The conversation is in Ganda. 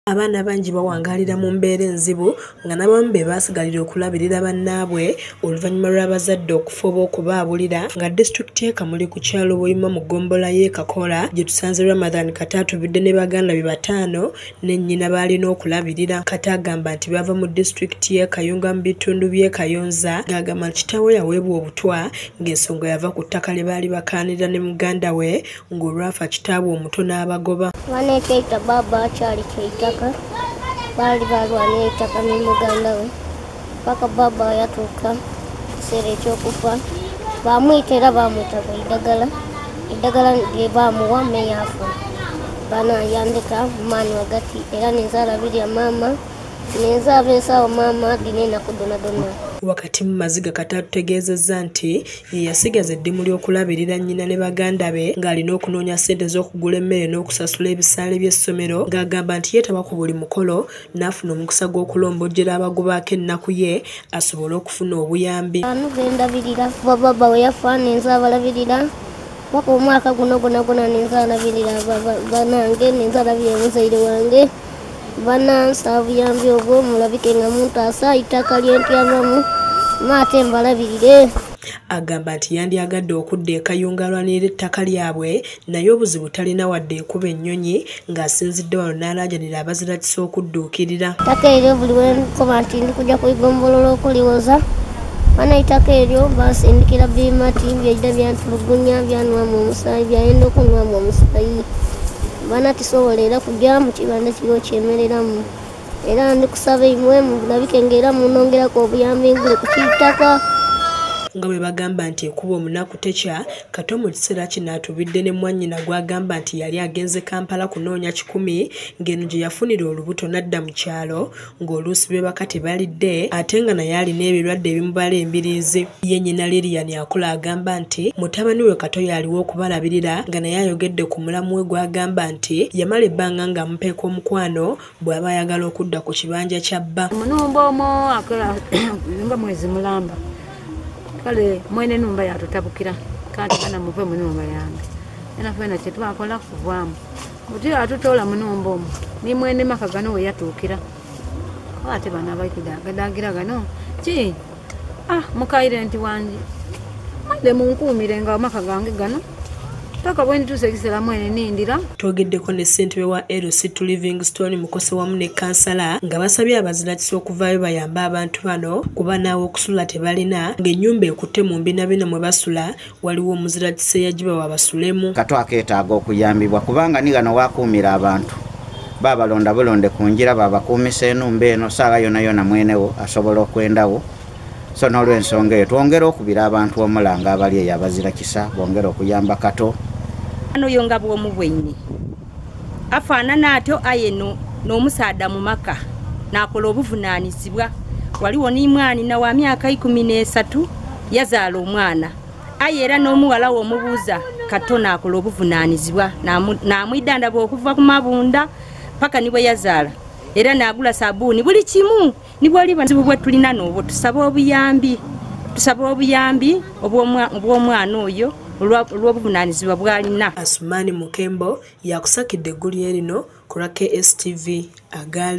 Abaana bangi bawangaalira mu mbeera enzibu nga n'abamu be baasigalira okulabirira bannaabwe oluvannyuma lw'abazadde okufa oba okubaabulira nga disitulikiti y'e Kamuli ku kyalo Buyima mu ggombolola y'e Kakola gye tusanze Ramadhan Kata atubidde ne baganda be bataano ne nnyina b'alina okulabirira. Kata agamba nti bava mu disitulikiti y'e Kayunga mu bitundu by'e Kayonza ng'agamba nti kitaawe yaweebwa obutwa ng'ensonga yava ku ttaka lye baali bakaanira ne muganda we ng'olwafa kitaabwe omuto n'abagoba baana ekyeita baaba akyali kyeitaka baali balwana eitaka ne muganda we paka baaba yatuuka ekiseera ekyokufa bamwita era bamwita ku eddagala eddagala lye baamuwa meyafu baana yandika maani wagati era nenzaala birya maama nenzaaba ensaawo maama dina enaku donadona wakati mu maziga kata tutegeezezza nti Yasigaza eddimu ly'okulabirira nnyina ne baganda be ng'alina okunoonya ssente z'okugula emmere n'okusasula ebisaale by'essomero ng'agamba nti yeetaba ku buli mukolo n'afuna omukisa gw'okulombojjera abagubaako ennaku ye asobole okufuna obuyambi. Ano ze ndabirira kuba baba we yafa ninze abalabirira paka omwaka guno gonagona ninze alabirira banange ninze alabirira muzaire wange. banansi abuyambi obwo mulabike nga muntu asa itaka lyentyabamu maate mbalabirire agamba nti yandyagadde okudda ekayungalwanira ettaka lyabwe naye obuzibu talina wadde ekuba ennyonyi ng'asinzidde wano n'alaajanira abazirakisa okudduukirira ttaka eryo buli wenkoba nti ndi kujja kuigombolola okuliwoza bana itaka eryo basindikira bimati byejja byantulugunya byanwamu omusayi byayenda okunwamu omusayi bana kisobola era kujja mu kibanda kiriwo kyemereramu era ndi kusaba imwe mulabike ngaera munongerako obuyambi ngule ku kiitaka nga bwe bagamba nti ekuba omunaku tekya kato mu kiseera kino atubidde ne mwannyina gw'agamba nti yali agenze kampala kunoonya kikumi ng'eno gye yafunira olubuto n'adda mu kyalo ng'oluusi beebaka tebalidde ate nga naye alina ebirwadde ebimubala embiriizi ye nyina lilian akula agamba nti mutabani we kato yaaliwo okubalabirira nga naye ayogedde ku mulamu we gw'agamba nti yamala ebbanga ng'amupeeka omukwano bw'aba ayagala okudda ku kibanja kya bba omunumba omu nga mwezi mulamba kale mwene numba yatutabukira kanti kana muve munumba yange enafena kyetwakola kuvaamu Mujira atutoola munumba omu ni mwene maka gano we yatuukira oba ate bana abali kudaagadaagira gano ki ah mukaire nti wangi mande munkuumire nga amaka gange gano paka bwe ndituusa ekiseera mwene nindira twogeddeko ne ssentebe wa lc to livingstone mukose wamu ne kansala nga basabye abazirakisa okuvaayo bayambe abantu bano kuba naawe okusula tebalina ng'ennyumba ekutte mu mbinabina mwe basula waliwo omuzirakisa eyagiba wabasulemu kato akeetaaga okuyambibwa kubanga ni gano wakuumira abantu babalonda bulonde ku njira babakuumisa enumba eno saawa yona yona mwenewo asobola okwendawo so n'olwensonga eyo twongere okubira abantu omulanga abali eyo abazirakisa bongere okuyamba kato ano yo nga bwomu bwenyi afaanana atyo aye n'omusaadha mu maka n'akola obuvunaanyizibwa waliwo n'imwani na wa myaka ikumi n'esatu yazaala omwana aye era n'omuwala we omubuuza kato n'akola obuvunaanyizibwa n'amwidandaba okuva ku mabunda paka ni bwe yazaala era n'agula sabuuni buli kimu nibwoli buzibu bwetulina noobwo tusaba obuyambi tusaba obuyambi obw'omwana oyo olw'obuvunanyizibwa bwalina asumani mukembo yakusakidde eggulire lino ku lwa kstv agaale